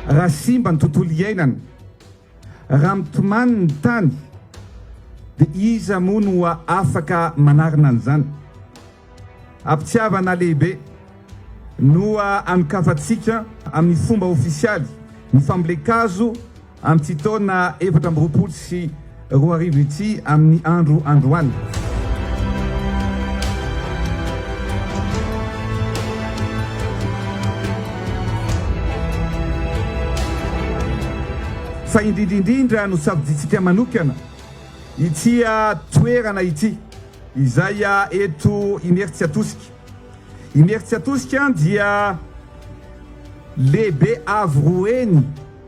Raha simba ny tontolo iainana, raha mitomany ny tany, dia iza moa no afaka manarina an'izany? Am-pitiavana lehibe no anokafantsika amin'ny fomba ofisialy ny fambolen-kazo, Amin'ity taona efatra amby roapolo sy roa arivo ity amin'ny andro androany. Fa indrindra indrindra no safidintsika manokana ity toerana ity izay eto Imerintsiatosika. Imerintsiatosika dia lehibe avo roa heny.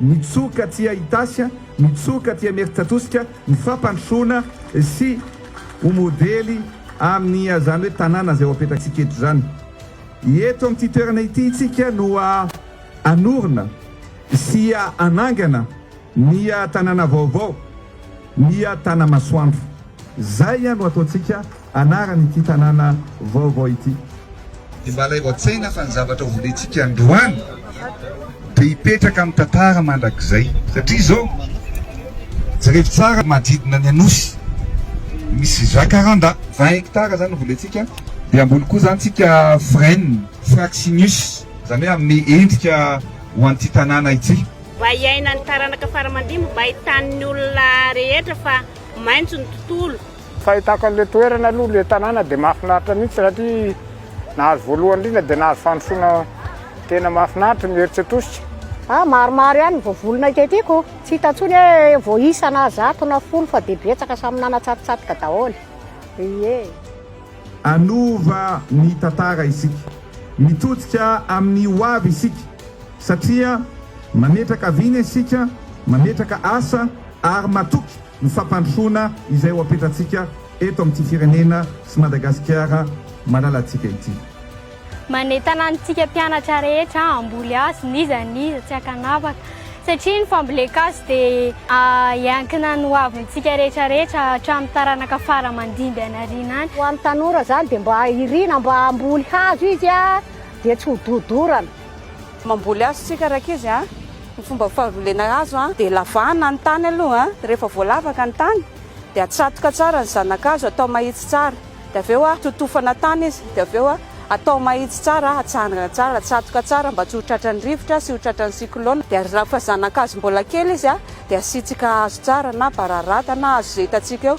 Nitsoaka aty Itasy, nitsoaka aty Imerintsiatosika ny fampandrosoana sy ho modely amin'ny izany hoe tanàna izay ho apetratsika eto izany. Eto amin'ity toerana ity isika no hanorina sy hanangana ny tanàna vaovao, ny Tanamasoandro. Izay no ataontsika. anaran'ity tanàna vaovao ity. Dia mba alaivo an-tsaina fa ny zavatra hovolentsika androany dia hipetraka amin'ny tantara mandrakizay. Satria izao, jerevy tsara manodidina ny Anosy, misy Jacaranda, vingt hectares izany no volentsika, dia hamboly koa izany tsika frêne, Fraxinus, izany hoe hanome endrika ho an'ity tanàna ity. Mba hiainan'ny taranaka fara aman-dimby, mba ahitan'ny olona rehetra fa maintso ny tontolo. Fahitako an'ilay toerana aloha, ilay tanàna dia mahafinaritra mihitsy satria nahazo voalohany indrindra dia nahazo fandrosoana tena mahafinaritra ny herisetr'Osy. Ah, maromaro ihany ny voavolona iketiko, tsy hita intsony hoe voaisa na zato na folo fa dia betsaka samy nanatsatotsatoka daholo. Ie. Hanova ny tantara isika. Mitodika amin'ny ho avy isika satria mametraka vina isika, mametraka asa ary matoky. ny fampandrosoana izay ho apetratsika eto amin'ity firenena sy Madagasikara malalantsika ity. Manentana antsika mpianatra rehetra hamboly hazo n'iza n'iza tsy ankanavaka satria ny fambolen-kazo dia hiankina ny hoavintsika rehetra rehetra hatramin'ny taranaka fara aman-dimby hanariana any. Ho an'ny tanora izany dia mba iriana mba hamboly hazo izy dia tsy ho dodorana. Mamboly hazo tsika rankizy a! Ny fomba fambolena hazo a! Dia lavana ny tany aloha a! Dia rehefa voalavaka ny tany dia atsatoka tsara ny zanakazo atao mahitsy tsara dia avy eo a! Totofana tany izy dia avy eo a! Atao mahitsy tsara a! Atsangana tsara, atsatoka tsara mba tsy ho tratran'ny rivotra sy ho tratran'ny cyclone dia rehefa zanakazo mbola kely izy a! Dia asiantsika hazo tsara na bararata na hazo izay hitantsika eo.